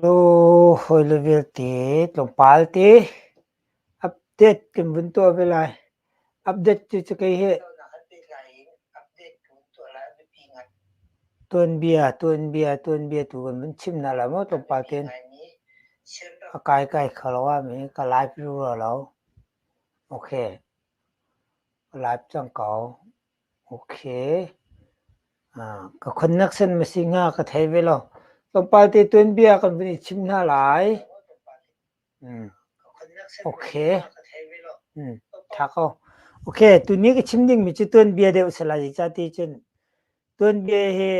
Lu hawile vialte tlawmpal te update kan vun tuah ve lai. Update cu cakei hi tuanbia, tuanbia, tuanbia tu kan vun chim hna lai maw tlawmpal tein. A kaikai kho lo ah mi ka live rua lo. Okay. Live cang ko. Okay, ka khonnak sen masi hnga ka thei ve lo. Tlawmpal te tuanbia kan vun i chim hna lai. Okay. Tha ko. Okay, tuni ka chim dingmi cu tuanbia deuh a si lai. Zeicah ti cun tuanbia hi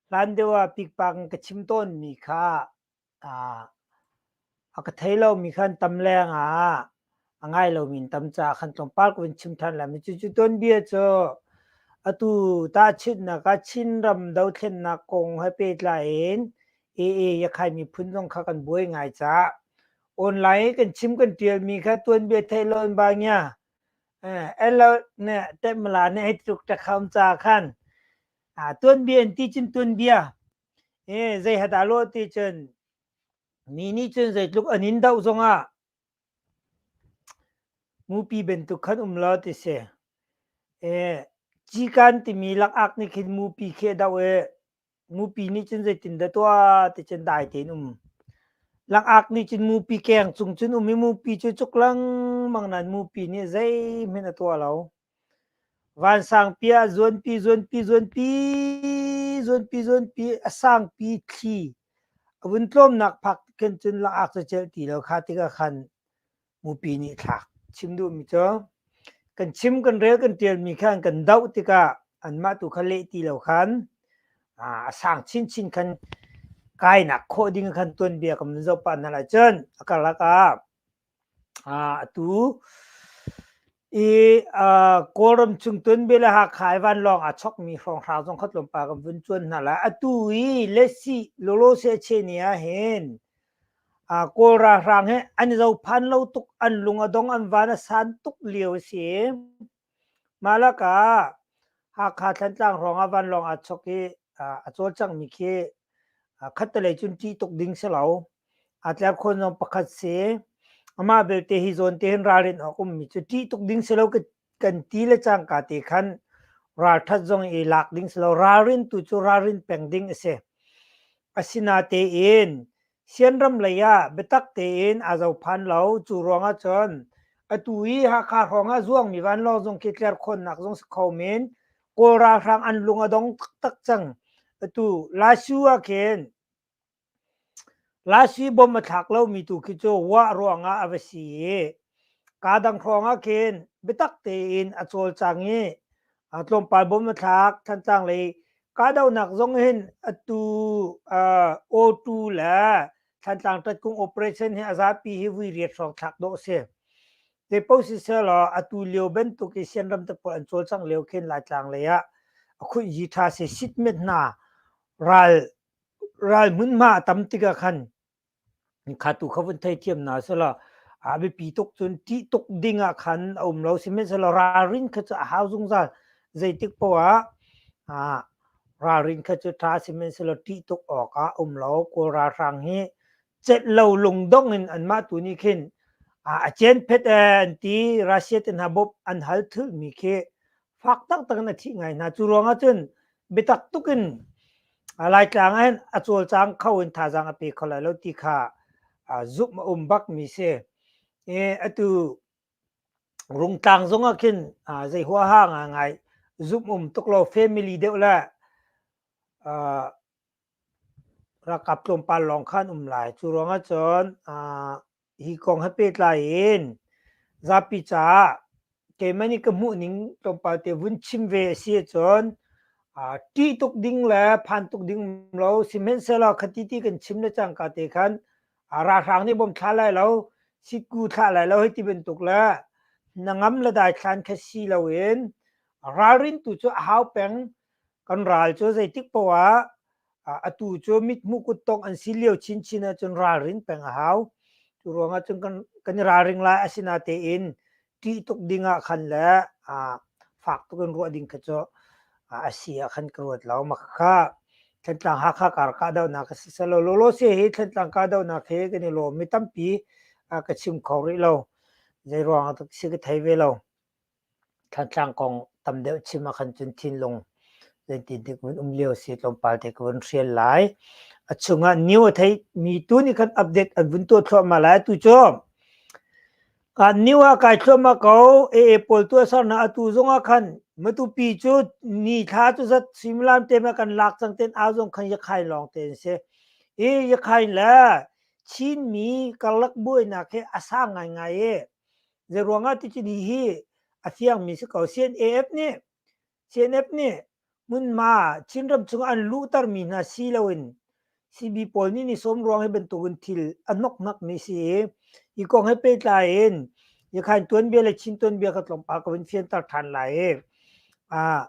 hlan deuh ah pikpak in ka chim tawnmi kha A ka thei lomi khan tam lengah a ngai lomi in tam caah khan tlawmpal ko in chim ṭhan lai. Cucu tuanbia cu atu tahchunhnak ah Chinram dothlennak kong he pehtlai in AA Yakhai miphun zong kha kan buai ngai cah. Online i kan chim kan ṭialmi kha tuanbia theih lo in bangya Elot ne Temla ne hei tluk ṭakham ca khan tuanbia in ti cun tuanbia e zei ha dah lawh ti cun mi nih cun zeitluk an in doh zongah mupi bantuk khan um lo ti si e cikan timi lakak nih khin mupi khi a doh i mupi nih cun zeitin dah tuah ti cun dai tein um langak nih cun mupi keng cung cun um i mupi cu cuk lengmang nan mupi nih zeihmanh a tuah lo Vansangpi ah zuanpi zuanpi zuanpi zuanpi zuanpi a sangpi thli a vun tlawmnak phak khin cun lak-ak cu celh ti lo kha tikah khan mupi nih thlak chim duhmi cu kan chim kan rel kan ṭialmi khan kan doh tikah anmah tu kha leh ti lo khan a sang chinchin khan kainak khawh ding khan tuanbia kan vun zoh pah hna lai cun a karlak ah Atu i Kawlram chungtun bia le Hakha i vanlawng aa chawkmi hrawnghrang zong kha tlawmpal kan vun cuan hna lai. Atu i Lessi Lawlawse Cheni ahhin Kawl ralhrang hi an i zophan lo tuk, an lung a dong, an van a san tuk lio a si. Mah lakah Hakha Thantlang hrawngah vanlawng aa chawk i a cawlcanghmi khi khattelei cun ṭih tuk ding si lo. Aa tlep kho zong pakhat si. Amah belte hi zawn te hin ralrin awk ummi cu ṭih tuk ding si lo kan ti le cangka te khan ralṭhat zong i lak ding si lo. Ralrin tu cu ralrin peng ding a si. Asinatein Sianram lei ah biatak tein aa zo phan lo. Cu ruang ahcun atu i Hakha hrawng ah zuangmi vanlawng zung khi tlerkhawnnak zung si kho men. Kawl ralhrang an lung a dong taktak cang. Atu Lashu ah khin Lashu i bom a thlak lomi tu khi cu Wah ruangah a va si i Kaa dang hrawngah khin biatak tein a cawlcang i tlawmpal bawm a thlak. Thantlang lei kahdohnak zong hin atu O2 le Thantlang Tatkung operation hi a zapi hi vui riat hrawng thlak dawh a si. Zei paoh siseh law atu lio bantuk i Sianram tapawl an cawlcang lio khin Laitlang lei ah a khuihyi ṭha si sit met hna ral hmunhma a tam tikah khan kha tu kha vun theithiam hna sela a biapi tuk cun ṭih tuk ding ah khan a um lo sihmanhsehlaw ralrin kha cu a hau zungzal zeitik poah ah ralrin kha cu ṭha sihmanhsehlaw ṭih tuk awk ah um lo kawl ralhrang hi cet lo lungdong in anmah tu nih khin a cen phet ee an ti Russia te hna bawmh an hal thulmi khi fak taktak in a thih ngai hna cu ruangah cun biatak tuk in laitlang ah hin a cawlcang kho in thazaang a pe kho lai lo ti kha zumh a um bak mi si e atu rungtlang zong ah khin zei huaha ngai zumh um tuk lo family deuh le ralkap tlawmpal lawng khan um lai cu ruangah cun hi kong he pehtlai in zapi caah keimah nih ka hmuhning tlawmpal te vun chim ve a si ahcun ṭih tuk ding le phan tuk ding lo sihmanhsehlaw khati ti kan chim le cangka te khan ralhrang nih bawm thla lai lo siku thlah lai lo hei ti bantuk le na ngam le dai thlan kha si loin ralrin tu cu a hau peng kan ral cu zeitik poah ah atu cu mithmuh kuttong an si lio chinchin ahcun ralrin peng a hau cu ruangah cun kan kan i ralring lai asinatein ṭih tuk ding ah khan le fak tuk in ruah ding kha cu a si ah khan ka ruat lo mak kha Thlantlang Hakha kar kahdohnak a si selaw lawlawse hi Thlantlang kahdohnak he kan i lawm mi tampi ka chim kho rih lo zei ruangah tak si ka thei ve lo Thantlang kong tam deuh chim ah khan cun thinlung zeitidik vun um lio si tlawmpal te ka vun hrial lai. A chungah new a thei mi tu nih khan update an vun tuah thluahmah lai tu cu kan new ah kai thluahmah ko AA pawl tu a sernak atu zongah khan matupi cu ni thla cu zat suimilam te ma kan lak cang ten au zong khan yakhain lawng te an si i yakhain le Chinmi karlak buainak hi a sang ngaingai i Zeiruangah tici ni hi a fiangmi si ko. CNAF nih CNF nih hmunhma Chinram chungah an luhtermi hna si loin CB pawl nih ni sawm ruang hi bantukin thil a hnokhnakmi si i hi kong he pehtlai in Yakhain tuanbia le Chin tuanbia ka tlawmpal ka vun fianter ṭhan lai i ah,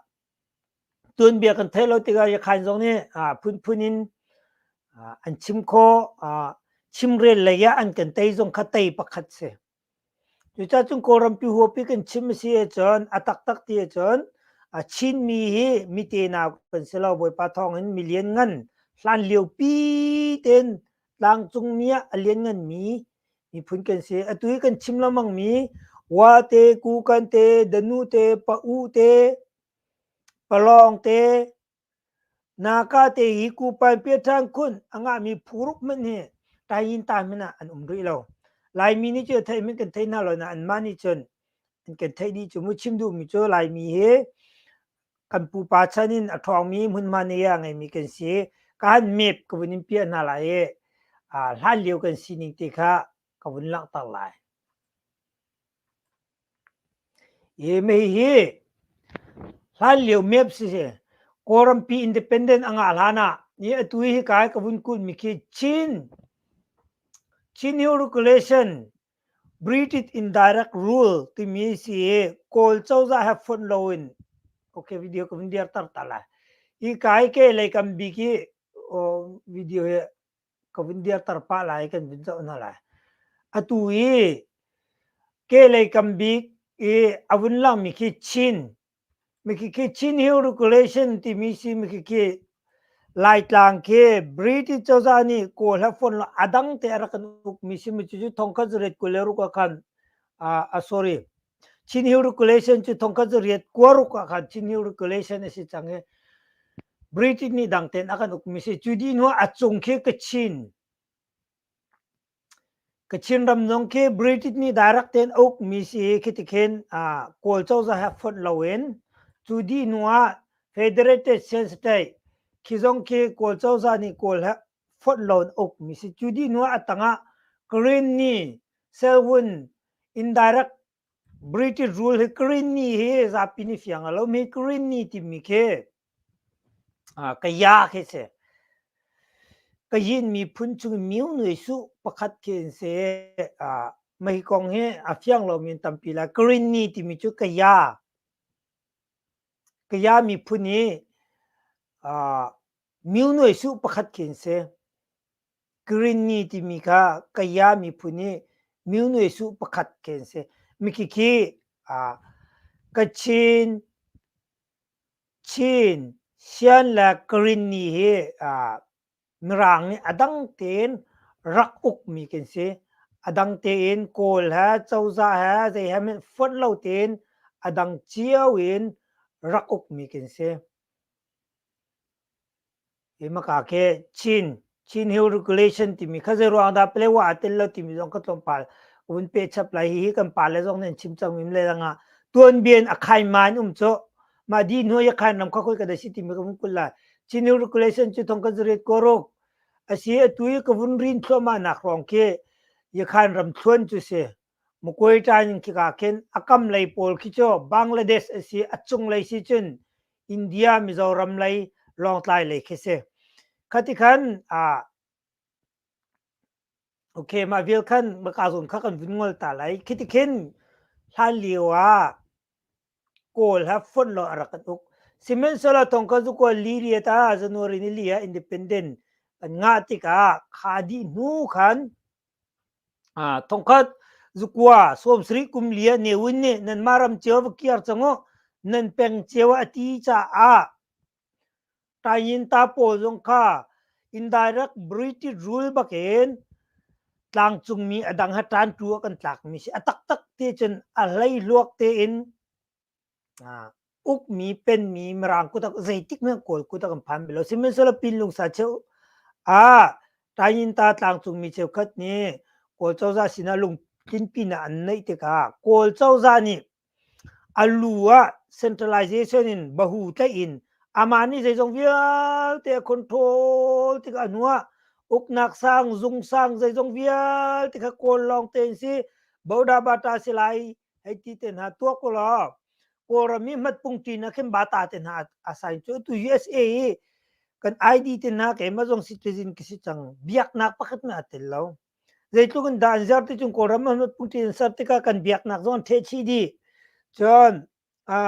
tuanbia kan theih lo tikah Yakhain zong nih ah, phunphun in ah, an chim khawh. Ah, chimrel lei ah an kan tei zong kha tei pakhat si. Cucacung Kawlrampi huapi kan chim a si ahcun a taktak ti ahcun a Chinmi hi mi tenau kan si lo. Bawipa thawngin mi lianngan hlanlio pi tein tlangcungmi ah a liannganmi miphun kan si. Atu hi kan chim lengmang mi Wate, Kukan te, Danu te, Pa-u te, Palawng te, Naka te i kupan piaṭhang khun a ngahmi phu ruk hmanh hi Tayin ta hmanh ah an um rih lo. Laimi nih cu theih hmanh kan theih hna lo nain mah nih cun an kan theih dih cu. Mu chim duhmi cu Laimi hi kan pupa chan in a ṭhawngmi hmunhma nei ah a ngeimi kan si. Kaan map ka vun in piah hna lai i hlanlio kan sining te kha ka vun langhter lai. Hi mei hi hlanlio map siseh Kawlrampi Independent a ngah hlan ah ni atu hi hika i ka vun kulhmi khi Chin, Chin Hill Regulation British Indirect Rule timi hi si i Kawl cozah he fonh loin okay video ka vun dirter ta lai. Hika i kehlei kan bik i video hi ka vun dir tar pah lai kan vun zoh hna lai atu i ke lei kam bik i a vun lang mi khi chin mi khi khi chin hill regulation timi si mi khi khi laitlang khi british cozah nih kawl ha fon lo adang te a rak kan uk mi si mi cu cu thongkhat zuret kule ru ka khan a sorry Chin Hill regulation cu thongkhat cu riat kua ruk ah khan Chin Hill regulation a si cang i British nih dang tein a kan ukmi si. Cu dih hnu a cung khi Kachin Kachin ram zong khi British nih direct tein a ukmi si hi khi tikhin ah Kawl cozah he fonh loin cu dih hnu ah Federated State khi zong khi Kawl cozah nih Kawl he fonh lo in uk mi si. Cu dih hnu ah a tang ah Greene Selwyn indirect British rule hi Greene hi zapi nih fiang a lo mi Greene timi khi ah kaya khi si. Kayin miphun chung in miu nui suh pakhat khi an si. Ah mei kong hi a fiang lo mi an tampi lai. Greene timi cu kaya kaya miphun hi ah Mi nuai suh pakhat khi an si. Greenny timi kha Kaya miphun i mi nuai suh pakhat khi an si. Mikhi khi aa Kachin, Chin, Sian le Greenny hi aa Mirang nih a dang tein rak ukmi kan si. A dang tein Kawl he, cozah he, zei he min fonh lo tein a dang cio in rak ukmi kan si. Himaka ke Chin, Chin Hill Regulation timi kha zeiruang dah pale wa a tel lo timi zong ka tlawmpal un pe chap lai. Hihi kan pale zong nih an chim cang mim le dang ah. Tuanbien a khaima in um cu. Mah di hnuai a khain ram kha koi ka da si timi ka vun kul lai. Chin Hill Regulation cu thong ka zariat koruk. Asi atu i ka vun rin thluahmah nak hrawng khi i khain ram thluan cu si. Mukuai ṭain khika khin a kam lei pawl khi cu Bangladesh a si, a cunglei si cun India, Mizoram lei Lawngtlai lei khi si. Khati khan ah okay mah vial khan maka zun kha kan vun ngol ta lai. Khiti khin hlan lio ah Kawl ha fonh lo a rak kan uk. Sihmanhsehlaw thong kan zu kual li ria ta January ni li ah independent an ngah tikah kha dih hnu khan Thongkhat zukua sawmsarih kum li ah Newin nih nanmah ram cio a va kir cang u nan peng cio ah a ti caah Tainginta pawl zong kha indirect British rule bakin tlangcungmi a dang ha ṭanṭu ah kan tlakmi a si. A taktak te cun a hleihluak tein ukmi penmi mirang kutak zeitik men kawl kutak an phan belo sihmanhsehlaw pinlung sa cheu a tayin ta tlangcung mi cheu khat nih kawl cozah sinah lungtin pinah an neih tikah kawl cozah nih a lu ah centralization in bahu tlaih in amah nih zeizong vialte a control tikah nu ah uknak sang zung sang zeizong vialte kha kawl lawng te in si boda bata si lai hei ti te hna tua ko lo kawlram i mat pung ṭi na khin bata te hna a sign cu tu USA i kan ID te hna ke ma zong citizen kisi chang biak nak pakhat me atel lo zeitluk in dan zer ti chung kawlram ma mat pung ṭi ser tika kan biak nak zong the chi di cun a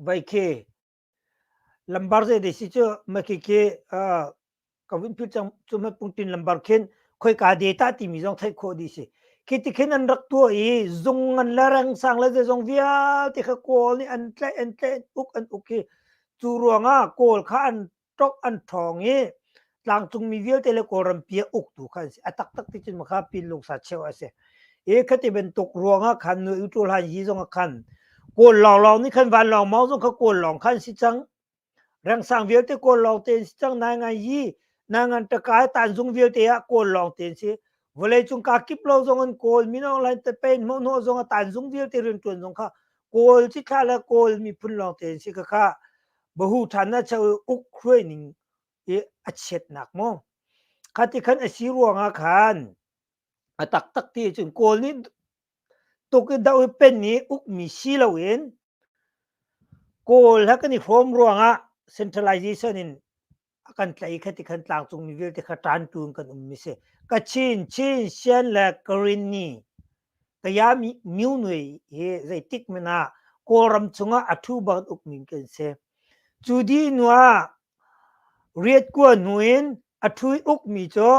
vai khe lambar zei dei si cu maki ke ka vun phil cang cu mat pungtin lambar khin khoi ka data timi zong theih khawh di si khi ti khin an rak tua i zung ngan le rang sang le zong vialte kha kawl nih an tle an tle uk an uk hi cu ruangah kawl kha an tok an ṭhawng i tlangcungmi vialte le kawlrampi a uk tu kha an si a taktak ti cun makha pinlung sa cheu a si e khati bantuk ruangah khan nu u tul han hi zong khan kawl lawng lawng ni khan van lawng mau zong kha kawl lawng khan si chang rengsang vialte kawl lawng ten si chang nai ngai hi na ngan takai tan zung vialte a kawl lawng ten si vawlei cung ka kip lo zong an kawl minong lain te pein mo no zong a tan zung vialte rin tuan zong kha kawl chi kha la kawl mi phun lawng ten si ka kha bahu than na chau uk khuai ning i a chiatnak maw khati khan a si ruangah khan a taktak ti cun kawl nih tuk i doh i pen i ukmi si loin kawl ha kan i hrawm ruangah centralization in a kan tlai kha ti khan tlangcungmi vialte kha ṭan tu in kan ummi si kachin chin sian le karini Kaya myu nui hi zeitik men ah Kawlram chungah a thu bang uk min kan si. Cu di nu ah riat kuan hnu in a thu i uk mi cu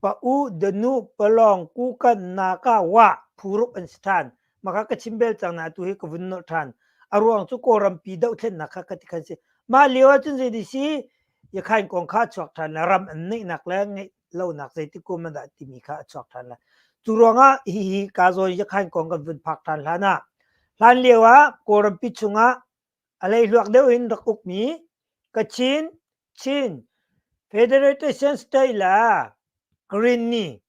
pa u danu palawng kukan naka wa phuruk an si ṭhan. Maka ka chim bel cang na atu hi ka vun nolh ṭhan. A ruang cu Kawlrampi dohthlennak kha ka ti khan si. Mah lio ahcun zei di si Yakhain kong kha chuak ṭhan le ram an neihnak le ngeih lonak zeitik kum an dah timi kha a chuak ṭhan lai. Cu ruangah hihi ka zawn yakhain kong kan vun phak ṭhan hlan ah hlan lio ah Kawlrampi chungah a leihluak deuh in rak ukmi Kachin, Chin, Federation State le Green nih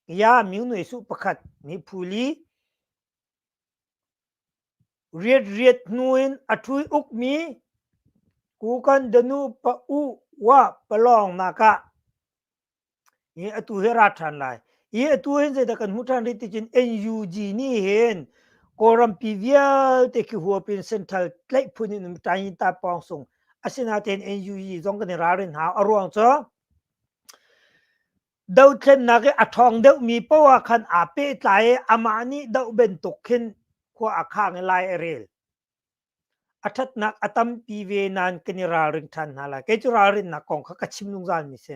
ya Mingnuai Suh pakhat nih phuli Riatriat hnu in a ṭhui ukmi Kukan Danu pa U Wa palawngnak ah hi atu hi a ra ṭhan lai. Hi atu hin zeidah kan hmuh ṭhan rih ticun NUG nih hin Kawlrampi vialte khi huap in Central tlaih phun in Ṭainta pawng sung asinain NUG zong kan i ralrin hna. A ruang cu Dothlennak i a ṭhawng deuhmi poah khan aa pehtlai i amah nih doh bantuk khin khua a khang i lai a rel. A ṭhatnak a tampi ve nain kan i ralring ṭhan hna lai. Kei cu ralrinnak kong kha ka chim zungzalmi si.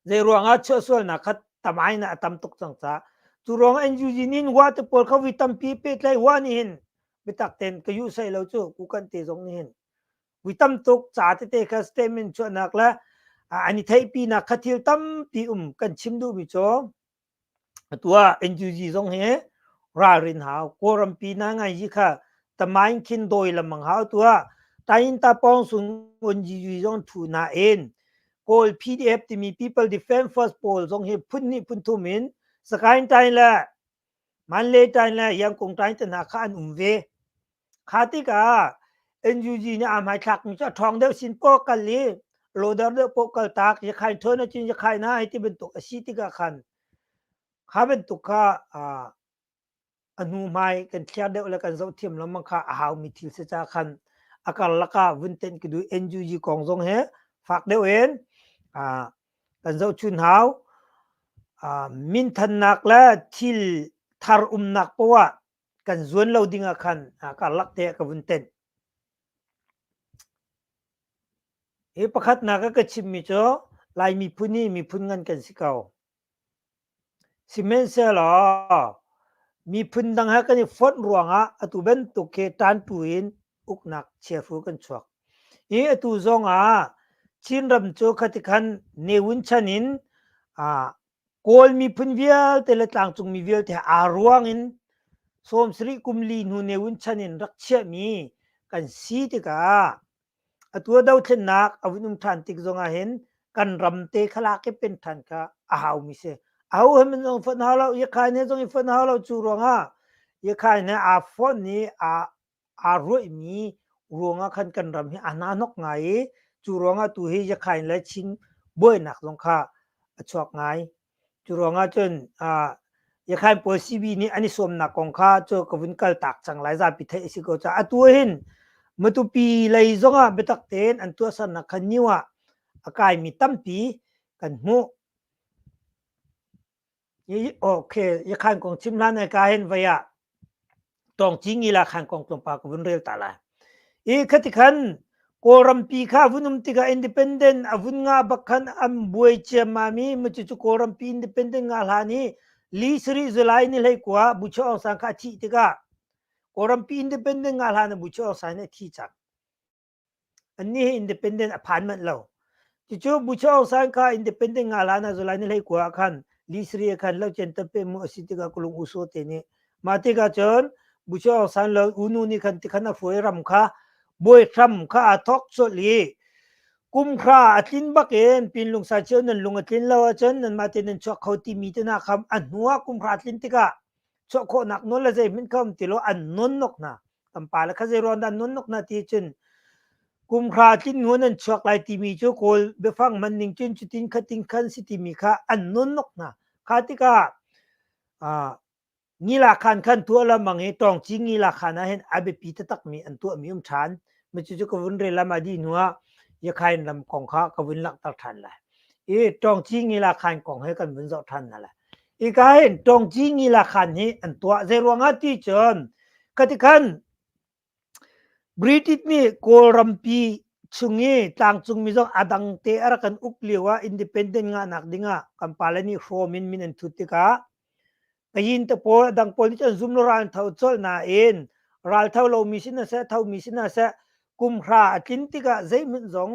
Zeiruangah chuahsualnak kha tam ai in a tam tuk cang ca. Cu ruangah NUG nih wa te pawl kha vi tampi pehtlai wa nih hin biatak tein ka yuh sai lo cu kukan te zong nih hin Kui tam tuk ca tete kha statement chuahnak le an i theihpinak kha thil tampi um kan chim duhmi cu atu ah NUG zong hi ralrin hau kawlrampi na ngai ji kha tamain khin dawi lamang hau tu ah tain ta pong sun on ji zong thu na en kawl pdf timi people defense first poll zong hi phun hnih phun thum in sakain tain le Manletain le Iangkungtain te hna kha an um ve. Kha tikah NUG nih aa hmaithlakmi cu a ṭhawng deuh sin poh a kal i lawdar deuh poh kaltak, Yakhain ṭhawn acun Yakhain ah hi ti bantuk a si tikah khan kha bantuk kha aa a hnuhmai kan thliar deuh le kan zoh thiam lengmang kha a haumi thil si caah khan a karlak ah vun tenh ka duh. NUG kong zong hi fak deuh in aa Kan zohchun hau. Ah minthannak le thil thar umnak poah kan zuan lo ding ah khan karlak te ah ka vun tenh. Hi pakhatnak a ka chimmi cu Lai miphun hi miphun ngan kan si ko. Sihmanhsehlaw miphun dang he kan i fonh ruangah atu bantuk khi ṭantu in uknak chiahru kan chuak. I atu zongah Chinram cu khatikhan Neun chan in Kawl miphun vialte le tlangcungmi vialte he aa ruang in sawm sarih kum li hnu Neun chan in rak chiahmi kan si tikah Atu a dothlennak a vun um ṭhan tik zongah hin kan ram te kha lak i pen ṭhan kha a haumi si. Ahohmanh min zong fonh hau lo, Iakhain he zong i fonh hau lo. Cu ruangah Iakhain he aa fonh i aa, aa ruihmi ruangah khan kan ram hi a hnahnok ngai i cu ruangah tu hi Iakhain le Chin buainak zong kha a chuak ngai. Cu ruangah cun Iakhain pawl sibi nih an i sawmnak kong kha cu ka vun kaltak cang lai zapi theih a si ko caah atu ahhin matupi lei zongah biatak tein an tuahsernak kha new ah a kaimi tampi kan hmuh. Okay, Iakhain kong chim hlan ai ka hin vei ah tong ci ngila khan kong tlawmpa ka vun rel ta la i khati khan kawlrampi kha vun um tikah independent a vun nga bak khan an buai ciama mi macu cu kawlrampi independent nga hlan i li sari zulai ni hlei kua bucho ong sang kha a thih tikah kawlrampi independent nga hlan a bucho ong sang nih a thi cang Annih hi independent a phan manh lo. Cucu Bucho Aung San kha independent nga hlan ah July ni hleikua ah khan li sari ah khan lo chen tape mu a si tikah kulung uso te nih mah tikah cun Bucho Aung San le unu nih khan tikhan a fuai ram kha bawi hram kha aa thawk colh i kum khra a tlin bakin pinlung sa cio nan lung a tlin lo ahcun nanmah te nan chuak kho timi te hna kha a hnu ah kum khra a tlin tikah chuah khawhnak nawl le zei min kam ti lo an non nok na tampa le kha zei ron dan non nok na ti cun kumkhra tlin nuan an chuak lai timi cu kawl biafang man ning cun cutin khatin khan si timi kha an non nok na kha tika a ngila khan khan tua la mangi tong chi ngila khana hen abepi ta tak mi an tua mi um than mi chu chu kavun re lama di nuwa yakhain lam kong kha kavun lak tak than lai e tong chi ngila khan kong he kan vun zo than na la Ikai tongci ngi la khan hi an tuah zei ruangah ti cun katikhan British nih Kawlrampi chung i tlangcung mi zong a dang te a rak kan uk lio ah independent ngahnak ding ah kan pale nih hrawm in min an thut tikah kayin te pawl a dang pawl nih cun zum lo ral an tho colh nain ral tho lomi si hna seh thomi si hna seh kumhra a tlin tikah zeihmanh zong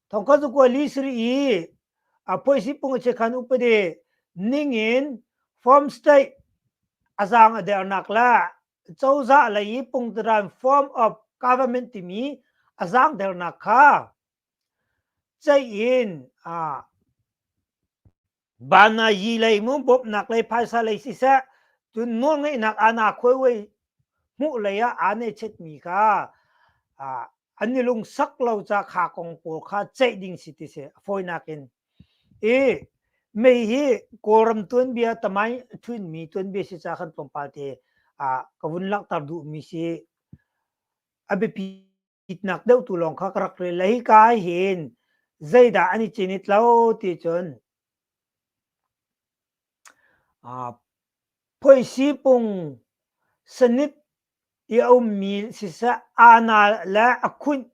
thongka cu kuai li sri i a poi si pung che khan upadi ning in form state a zang a dernak la cozah lei i pungtaran form of government timi a zang dernak kha cein a Banayi lei mu bawmhnak lei phaisa lei siseh cun nawlngeihnak ana khuaiwei hmuh lei ah aa nechet mi kha an i lungsak lo ca kha kong pawl kha ceih ding si ti si fawinak in i mei hi kawlram tuanbia tamai thuin mi tuanbia si ca kan tlawmpal te ka vun langhter duh mi si a biapi itnak deuh tu lawng kha ka rak rel lei ka hin zeidah an i cin i tlo ti cun phoisi pung sanit i a ummi siseh anal le a khunh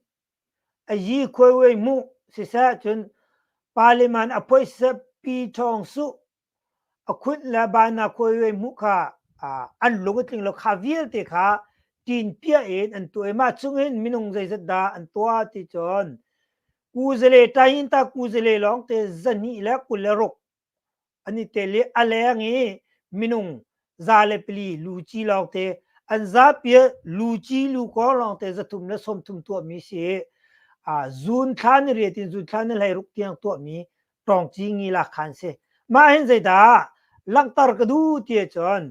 a yi khuaiwei mu siseh cun parliament a phoiseh pi thawng su a khunh le ban na khuai hmuh kha an lung a tling lo kha vialte kha tin pia in an tuah i mah chungin minung zeizat dah an tuah ti cun kuzale tain ta kuzale lawng te zahnih le kul le ruk an i tel i a leng i minung za le pali luci lawng te an zapi luci lukor lawng te zathum le sawmthum tuahmi si zun thlan ri tin zun thlan le hlei ruk tiang tuahmi ṭawng ci ngi lak kha an si. Mah hin zeidah langhter ka duh ti ahcun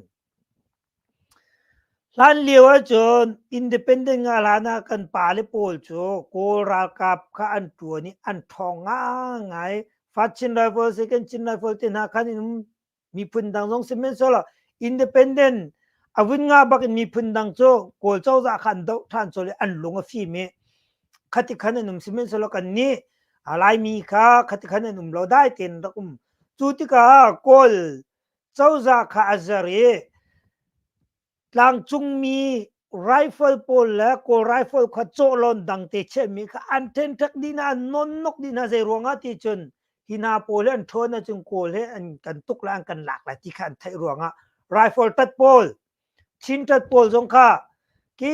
hlan lio ahcun independent ngah hlan ah kan pa le pawl cu kawl ralkap kha an ṭuan i an ṭhawng ngaingai. Fa Chin Rifle, Second Chin Rifle te hna khan in um miphun dang zong sihmanhsehlaw independent a vun nga bak in miphun dang cu kawl cozah khan doh than chol i an lung a fim i khati khan an um sihmanhsehlaw kan nih laimi kha khati khan an um lo dai tein rak um cu tikah kawl cozah kha a zer i Tlangcungmi rifle pawl le kawl rifle kha cawhlawn dang te chiahmi kha an ṭhenṭhek dih hna an nonnok dih hna zei ruangah ti cun hi hna pawl hi an ṭhawn ahcun kawl he an kan tuk le an kan lak lai ti kha an theih ruangah rifle tat pawl chin tat pawl zong kha ki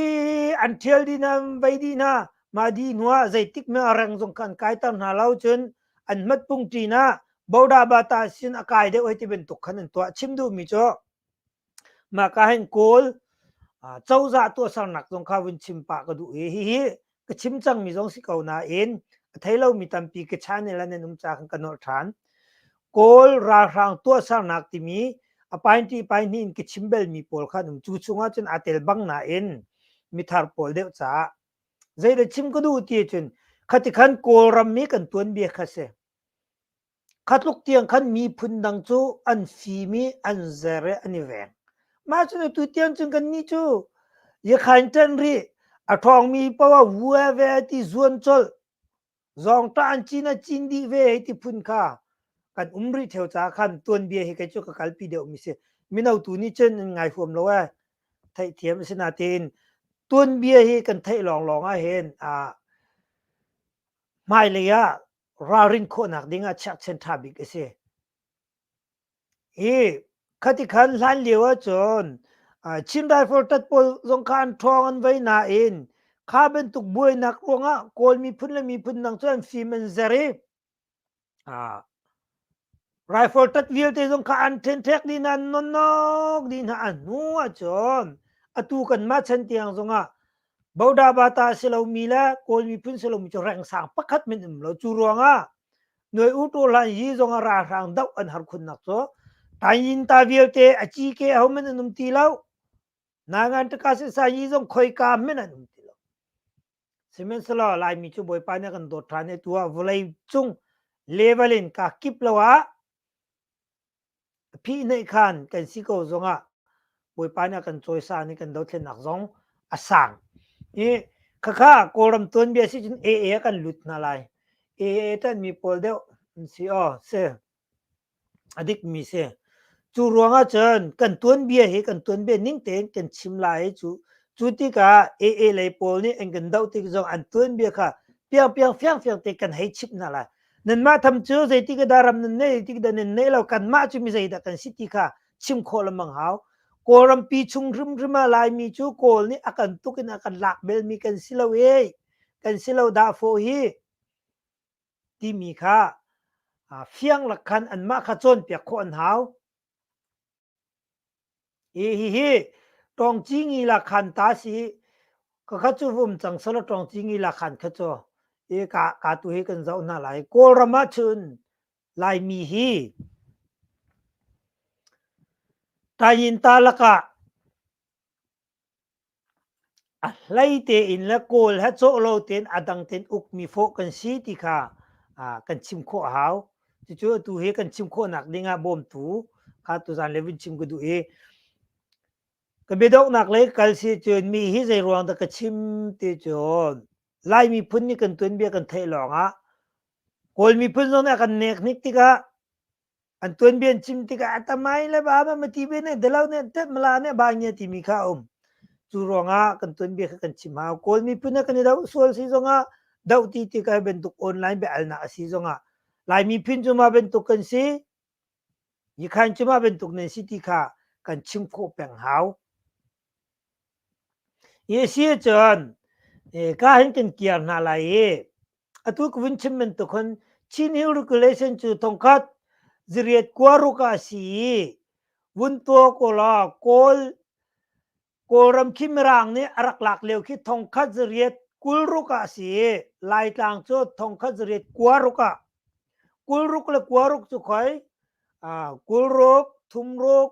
an ṭhial dih hna vei dih hna mah dih hnuah zeitik mah reng zong kha an kaiter hna lo cun an mat pung ṭin ah bodabata sin a kai deuh hei ti bantuk khan an tuah chim duhmi cu Mah ka hin Kawl cozah tuahsernak zong kha vun chim pah ka duh i hihi ka chim cangmi zong si ko nain a thei lomi tampi ka channel ah nan um ca khan ka nolh ṭhan. Kawl ralhrang tuahsernak timi a painti paihnih in ka chim belmi pawl kha an um. Cu chungah cun aa tel bang nain mithar pawl deuh caah. Zeidah chim ka duh ti ahcun khati khan Kawlram mi kan tuanbia kha si. Kha tluk tiang khan miphun dang cu an fim i an zer i an i veng. Mah cu atu tiang cun kannih cu i khain ṭen rih. A ṭhawngmi poah ah vua ve ti zuan colh. Zawngṭah an cin a cin dih ve hei ti phun kha kan um rih ṭheo caah khan tuanbia hi kei cu ka kalpi deuhmi si. Mino tu nih cun an ngai huam lo ee. Theihthiam a si nain tuanbia hi kan theih lawnglawng ahhin aa hmailei ah ralrin khawhnak ding ah chiakchen ṭha bik a si. I khati khan hlan lio ahcun uh, Chin Rifle tat pawl zong kha an ṭhawng an vei nain kha bantuk buainak ruangah Kawl miphun le miphun dang cu an fim an zer i uh, Rifle tat vialte zong kha an ṭhenṭhek dih hna, an nonnok dih hna. A hnu ahcun atu kanmah chan tiang zongah Bodabata a si lomi le Kawl miphun si lomi cu rengsang pakhat min um lo. Cu ruangah Nuai U Taw Hlan hi zongah ralhrang doh an har khunnak cu Tayin ta vialte a cike ho hmanh an um ti lo. Nangan Takasin Sanyi zong khoika hmanh an um ti lo. Sihmanhsehlaw Laimi cu Bawipa nih a kan dawt ṭhan i tuah vawlei cung level in kaa kip lo ah phihnaih khan kan si ko zongah Bawipa nih a kan cawisan i kan dothlennak zong a sang. I khakha Kawlram tuanbia si cun AA kan lut hna lai. AA ṭanmi pawl deuh an si aw si. a dikmi si. Cu ruangah cun kan tuanbia hi kan tuanbia ning tein kan chim lai i cu cu tikah AA lei pawl nih an kan doh tik zong an tuanbia kha piangpiang fiangfiang te kan hei chimh hna lai. Nanmah tham cu zeitik dah ram nan neih, zeitik dah nan neih lo, kanmah cu mi zeidah kan si ti kha chim khawh lengmang hau. Kawlrampi chung hrimhrim ah Laimi cu Kawl nih a kan tuk in a kan lak belmi kan si lo ee. Kan si lo dahfawh hi. timi kha fianglak khan anmah kha cawnpiak khawh an hau. E hihi tongci ngi la khan ta si ka kha cu vum cang sala tongci ngi la khan kha cho e ka ka tu hi kan zau na lai kawlram ah chun laimi hi tayin ta laka A hlei tein le kawl he cawh lo tein a dang tein ukmi fawh kan si ti kha kan chim khawh a hau. Cucu atu hi kan chim khawhnak ding ah bawmtu kha tuzaan le vun chim ka duh i ka biadoknak lei kal si cun mi hi zeiruang dah ka chim ti cun Lai miphun nih kan tuanbia kan theih lawngah Kawl miphun zong nih a kan nek hnik tikah An tuanbian chim tikah a tam ai le ba ma ma ti ve ne dalo ne te mala ne ba nge ti mi kha um. Cu ruangah kan tuanbia kha kan chim hau. Kawl miphun a kan i do sual si zongah do ti ti kai bantuk online be al na asi zongah Lai miphun cu ma bantuk kan si Yikhain cu ma bantuk nan si ti kha kan chim khawh peng hau. Hi a si ahcun ka hin kan kiar hna lai i atu ka vun chim bantuk khan Chin Hill regulation cu thongkhat ziriat kua ruk ah si i vun tua kola kawl kawlram khi mirang nih a rak lak lio khi thongkhat zariat kul ruk ah si i laitlang cu thongkhat zariat kua ruk ah kul ruk le kua ruk cu khoi kul ruk thum ruk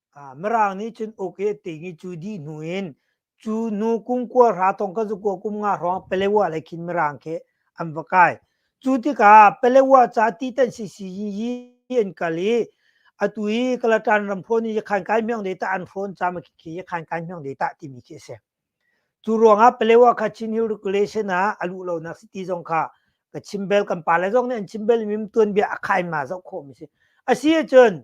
mirang nih cun uk i ting i cu dih hnu in cu nu kum kua hra thong ka zu kua kum nga hrawng pelewa le khin mirang khi an va kai cu tikah pelewa ca ti tan si si yi an kal i atu i kalatan ram phone i khan kai myang de ta an phone cha ma khi khan kai myang de ta timi khi ase cu ruangah pelewa kha chin hill regulation ah alu lo nak city zong kha ka chimbel kan pa le zong nih an chimbel mim tuan bia a khai ma zau kho mi si asi cun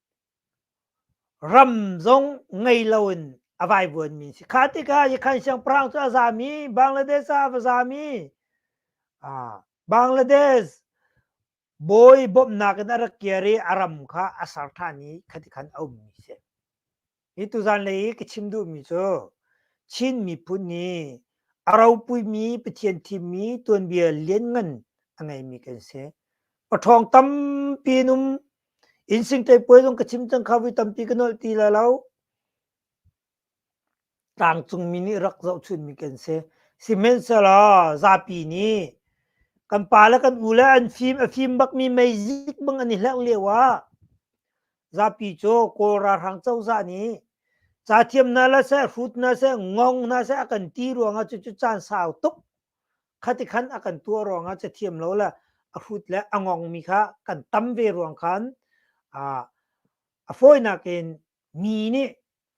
Ram zong ngei loin a vaivuanmi si. Kha tikah Yikhan siangpahrang cu a zami, Bangladesh ah a va zami, Bangladesh bawi bawmhnak in a rak kir i a ram kha a ser ṭhan i khati khan a ummi a si. Hi tuzanlei i ka chim duhmi cu Chin miphun hi a ropuimi Pathian thimmi tuanbia lianngan a ngeimi kan si. Paṭhawng tampi an um. Innsingṭai puai zong ka chim cang kha voi tampi ka nolh ti la lo. Tlangcungmi nih rak zohchunhmi kan si. Sihmanhsehlaw zapi nih kan pa le kan u le an fim a fim bakmi meizik bang an i hlengh lio ah zapi cu kawl ralhrang cozah nih ca thiam hna la seh hrut hna seh ngong hna seh a kan ti ruangah cu cu caan sau tuk khati khan a kan tuah ruangah ca thiam lo la a hrut le a ngong mi kha kan tam ve ruang khan a a fawinak in mi nih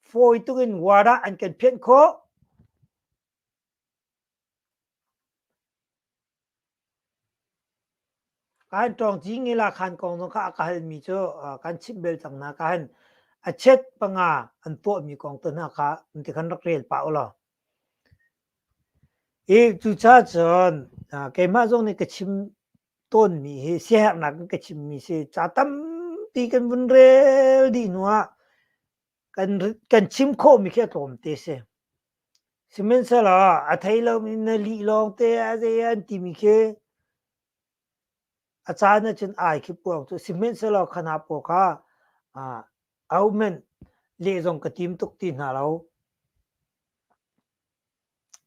fawi tukin wadah an kan phianh khawh Kan ṭawngci ngila khan kong zong kha a ka halmi cu kan chimh bel cang hna khan a chiat panga an tuahmi kong tu hna kha an ti khan rak rel pah u law. I cucaah cun keimah zong nih ka chim tawnmi hi siaherhnak in ka chimmi si ca tampi kan vun rel dih hnu ah kan chim khawhmi khi a tlawm te a si. Sihmanhsehlaw a thei lomi na lih lawngte a zei an timi khi a caan ahcun ai khi puang cu. Sihmanhsehlaw khana pawl kha ahohmanh leh zong ka tim tuk ti hna lo.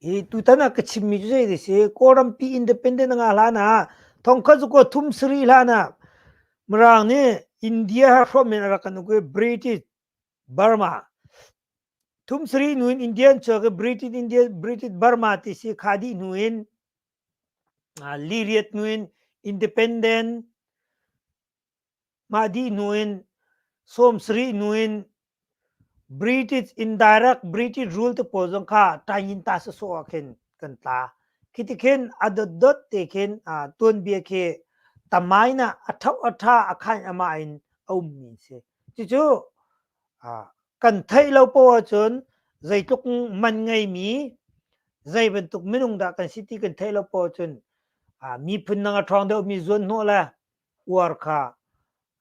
Hi tutan ah ka chimmi cu zei dih si Kawlrampi independent a ngah hlan ah thongkhat cu kua thum sarih hlan ah Mirang nih India hi hrawm in a rak kan uk i British Burma thum sarih hnu in India an chuak i British India British Burma ti si khah dih hnu in ah liriat hnu in independent Mah dih hnu in sawmsarih hnu in British indirect British rule te pawl zong kha tain ta sasawh ah khin kan tla. Khi ti khin a dotdot te khin tuanbia khi tamain ah a ṭhauh a ṭha a khain amah in a ummi an si. Cucu kan theih lo poh ahcun zeitluk man ngeimi zei bantuk minung dah kan si ti kan theih lo poh ahcun miphun nang a ṭhawng deuhmi zuanhnawh le uar kha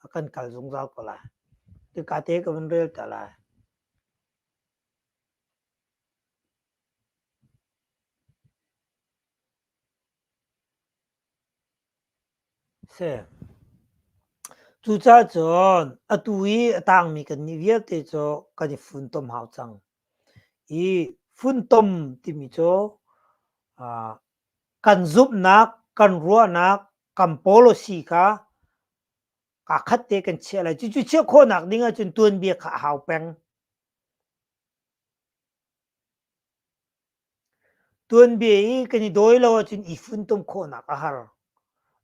a kan kal zungzal ko lai. Tika te ka van rel ta lai. Si. Cucaah cun atu i a tangmi kannih vialte cu kan i funtom hau cang. I funtom timi cu uh, Kan zumhnak, kan ruahnak, kan policy kha kaa khat te kan chiah lai. Cucu chiah khawhnak ding ahcun tuanbia kha a hau peng. Tuanbia i kan i dawi lo ahcun i funtom khawhnak a har.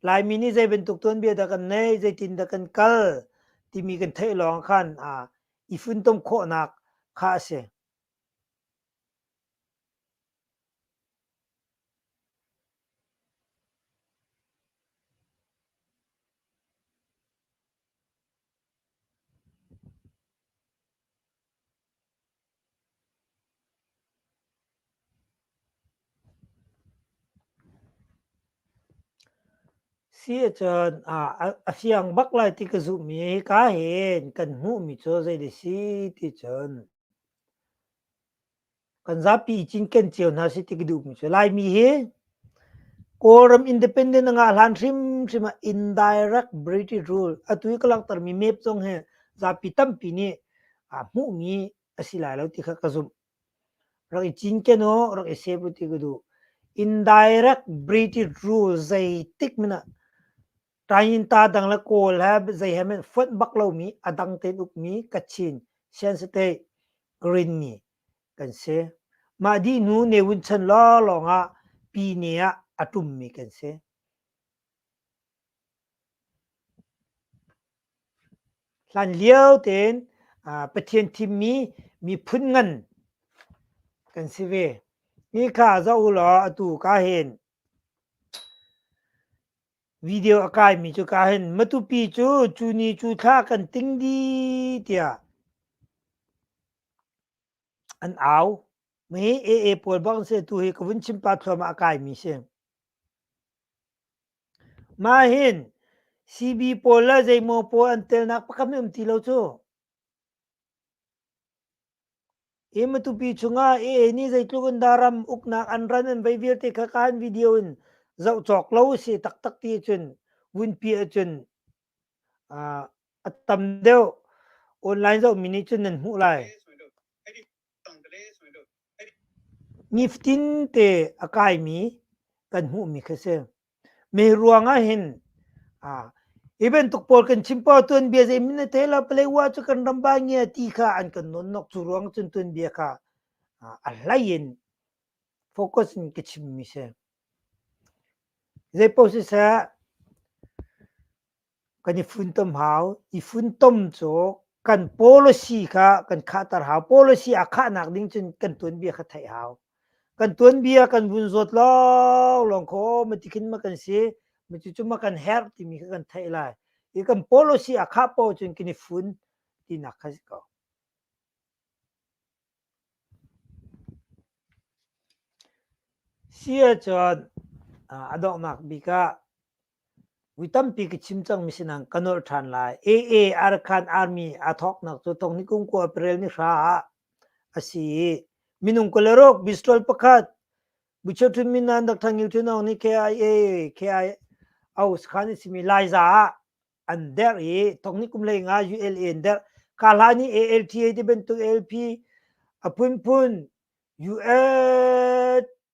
Laimi nih zei bantuk tuanbia dah kan neih, zeitin dah kan kal timi kan theih lawng khan aa, i funtom khawhnak kha a si. Siacaan ah a siang bak lai ti ka zumh i ka hen kan hmuhmi cu zei dih si ti cun kan zapi cinken cio hna si ti ka duhmi cu Laimi hi Kawlram independent a ngah hlan hrimhrim ah indirect British rule atu i ka langhtermi map zong hi zapi tampi nih aa hmuhmi a si lai lo ti kha ka zumh. Rak i cinken u, rak i save u ti ka duh. Indirect British rule zeitik hmanh ah Ṭainta dang le kawl he zei he men fonh bak lomi a dang tein ukmi kachin siansate greenmi kan si. Mah dih hnu ne wun chan lawnglawng ah pine ah a ṭummi kan si. Hlan lio tein Pathian thimmi miphun ngan kan si ve. Hi kha zoh u law atu ka hin Video a kaimi cu ka hin Matupi cu cu ni cu thla kan ting dih tiah an au. Mi AA pawl bang si tu hi ka vun chim pa thluamah a kaimi si. Mah hin CB pawl le zeimaw pawl an telnak pakam hi um ti lo cu. Hi matupi chungah AA nih zeitluk in daram uknak an ran an vei vialte kha kaan video in zoh cawk lo a si taktak ti cun vunpi ahcun uh, a tam deuh online zohmi nih cun nan hmuh lai. Niftin te a kaimi kan hmuhmi kha si. Me ruang ah hin hi bantuk pawl kan chim poh ah tuanbia zeimin a thei lo Paletwa cu kan ram ba nge ti kha an kan nonnok cu ruang cun tuanbia kha a hlei in focus in ka chimmi si. Zeipoh siseh kan i funtom hau. I funtom cu kan policy kha kan khahter hau. Policy a khahnak ding cun kan tuanbia kha theih hau. Kan tuanbia kan vun zawt lawnglawng kho ma tikhin ma kan si ma cucu ma kan herh timi kha kan theih lai. I kan policy a khah paoh cun kan i fun tinak kha si ko. Si ahcun a donghnak bik ah Mi tampi ka chim cangmi sinah ka nolh ṭhan lai. AA Arakan Army aa thawknak cu tawng nikum kua April ni hra ah a si i minung kul le rok pistol pakhat Buchethun Minan Dr. Ngil Htun Aung nih KIA KIO sakhan a simi Laiza ah an derh i tawng nikum lei nga ULA an derh. Ka hla nih ALTA ti bantuk ALP a phunphun US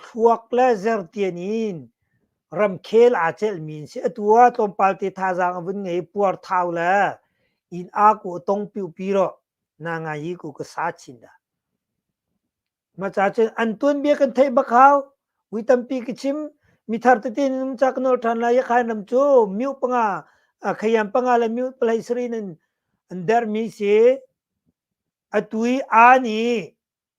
thluak le zertian in ramkhel aa celhmi an si. Atu ah tlawmpal te thazaang a vun ngei i puarthau le inn aa kuh tong piuhpiro na ngai i ku ka sa chin dah. Maca cun an tuanbia kan theih bak hau. Ui tampi ka chim mi thar tete num ca kan ol ṭhan lai Yakhain ram cu miu panga a khayam panga le miu palai sarin an an dermi si. Atu i aa nih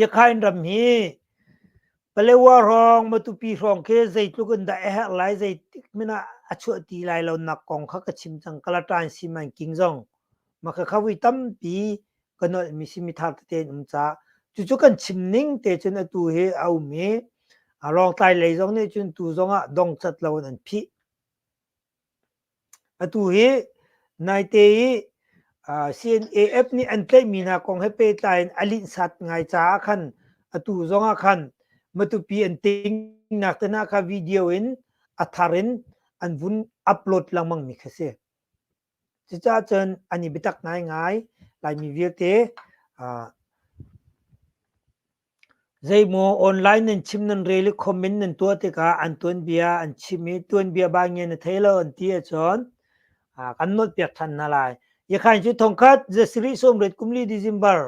Yakhain ram hi Palewa hrawng Matupi hrawng khi zeitluk in dah a herh lai zeitik hmanh ah a chuah ti lai lonak kong kha ka chim cang. Kalatain Siman King zong makhakha vui tampi ka nolhmi simi thar tete in um ca. Cucu kan chim ning te cun atu hi a um i a Rawngtlai lei zong nih cun tu zong ah dongcat lo in an phih. Atu hi naite i CNAF nih an tlaihmi hna kong he pehtlai in a linhsat ngai caah khan atu zong ah khan Matupi an tingnak te hna kha video in a thar in an vun upload lengmangmi kha si. Cucaah cun an i biatak ngaingai. Laimi vialte Zeimaw online nan chim nan rel i comment nan tuah tikah an tuanbia an chim i tuanbia bangia na thei lo an ti ahcun kan nawtpiak ṭhan hna lai. Ikhan cu thongkhat zasarih sawmriat kumli December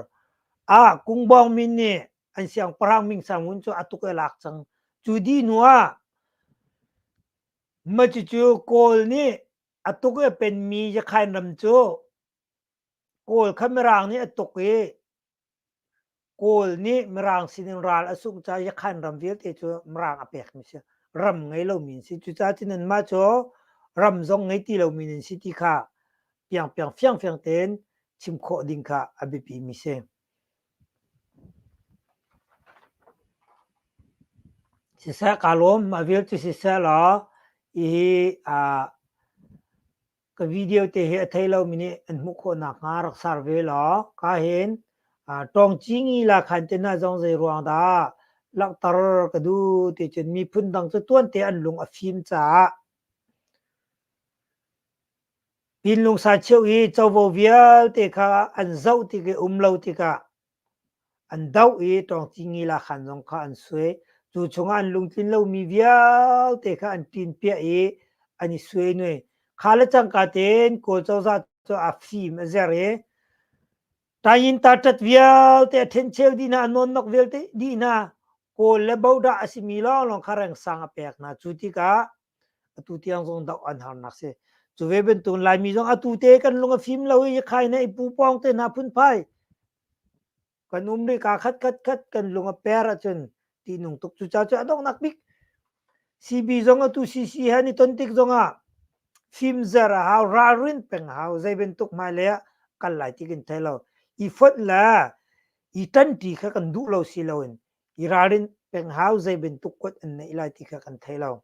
ah Kungbawng min nih an siangpahrang Ming Sang Wun cu a tuk i a lak cang. Cu dih hnuah macucu Kawl nih a tuk i a penmi Yakhain ram cu Kawl kha Mirang nih a tuk i Kawl nih Mirang sinin ral a sungh caah Yakhan ram vialte cu Mirang a pekmi si. Ram ngei lomi an si. Cucaah cun anmah cu ram zong ngei ti lomi an si ti kha piangpiang fiangfiang tein chim khawh ding kha a biapimi si. Siseh kaa lawm, mah vial cu siseh law, hihi aa ka video te hi a thei lo mi nih an hmuh khawh nak hnga rak sar ve law ka hin tawng ci ngi la khan te na zong zei ruang dah langhter ka du ti cun miphun dang cu tuan te an lung a fim caah pinlung sa cheu i covo vialte kha an zoh ti ke um lo tikah An doh i ṭawngcingila khan zong kha an suai, cu chungah an lungtlin lomi vialte kha an ṭinpiah i an i suenue. Kha le cangka tein Kawl cozah cu a fim a zer i ṭain ṭaṭat vialte a ṭhencheu dih hna, a nawnnok vialte dih hna, Kawl le Bodah a simi lawnglawng kha rengsang a pek hna. Cu tikah atu tiang zong doh an harnak si cu ve bantukin laimi zong atu te kan lung a fim lo i khai ne i pu pawng te hna phun phai kan um ri ka khat khat khat kan lung a per ahcun ti nung tuk cu ca cu a dong nak bik CB zong atu CC ha ni ton tik zong ah fim zer a hau ralrin peng hau zei bantuk mai le kal lai ti kin thai lo i phot le i tan ti kha kan duh lo si lo in i ralrin peng hau zei bantuk kuat an neih lai ti kha kan thei lo.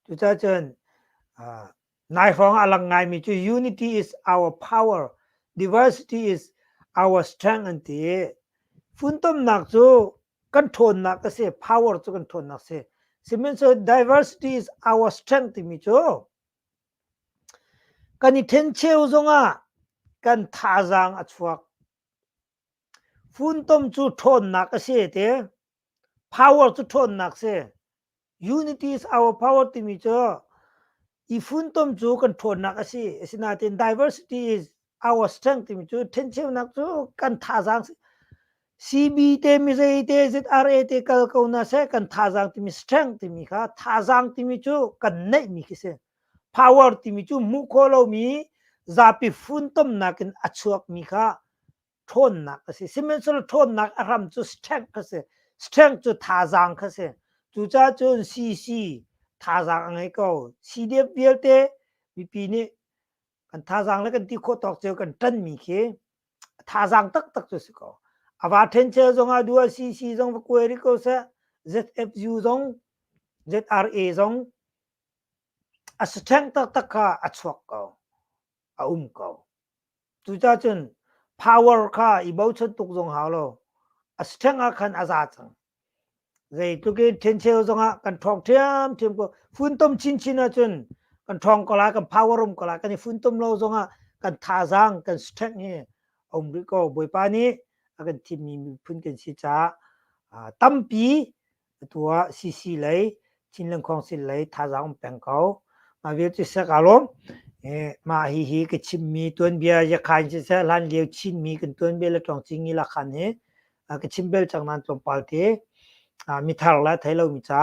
Cucacun nai hrawng ah lang ngaimi cu unity is our power, diversity is our strength an ti i funtomnak cu kan ṭhawnnak a si, power cu kan ṭhawnnak a si. Sihmanhsehlaw diversity is our strength timi cu kan i ṭhencheu zongah kan thazaang a chuak. Funtom cu ṭhawnnak a si ti. Power cu ṭhawnnak si. Unity is our power timi cu i funtom cu kan ṭhawnnak a si. Asinain diversity is our strength timi cu ṭhencheunak cu kan thazaang si. CB te, mizei te, ZRA te kal ko hna seh kan thazaang timi strength timi kha thazaang timi cu kan neihmi khi si. power timi cu hmuh khawh lomi zapi funtomnak in a chuakmi kha ṭhawnnak a si. Sihmanhsehlaw ṭhawnnak a hram cu strength kha si. Strength cu thazaang kha si. Cucaah cun CC thazaang a ngei ko. CDF vialte mipi nih kan thazaang le kan ti khawh tawk cio kan ṭanmi khi thazaang taktak cu si ko. A va ṭhencheu zongah dual CC zong va kuai rih ko seh. ZFU zong, ZRA zong A saṭheng taktak kha a chuak ko, a um ko. Cucah cun power kha i bochan tuk zong hau lo, a saṭheng ah khan a za cang. Zeitluk in ṭhencheu zongah kan ṭhawng ṭhiamṭhiam ko. Funtom chinchin ahcun kan ṭhawng ko lai, kan power um ko lai, kan i funtom lo zongah kan thazaang, kan saṭheng hi a um rih ko. Bawipa nih a kan thimmi miphun kan si caah tampi Atu ah CC lei Chin Lengkhawng Sil lei thazaang um peng ko. Mah vialte sek aa lawm. Eh, mah hi hi ka chimmi tuanbia Yakhain siseh, hlan lio Chinmi kan tuanbia le tlawngcing i lakhan hi uh, ka chim bel cang nan tlawmpal te uh, mi thar la thei lo mi ca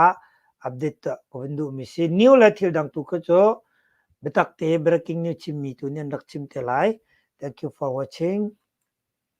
update uh, ka vun duh mi si new le thil dang tu kha cu biatak te breaking news chimmi tu nih an rak chim te lai thank you for watching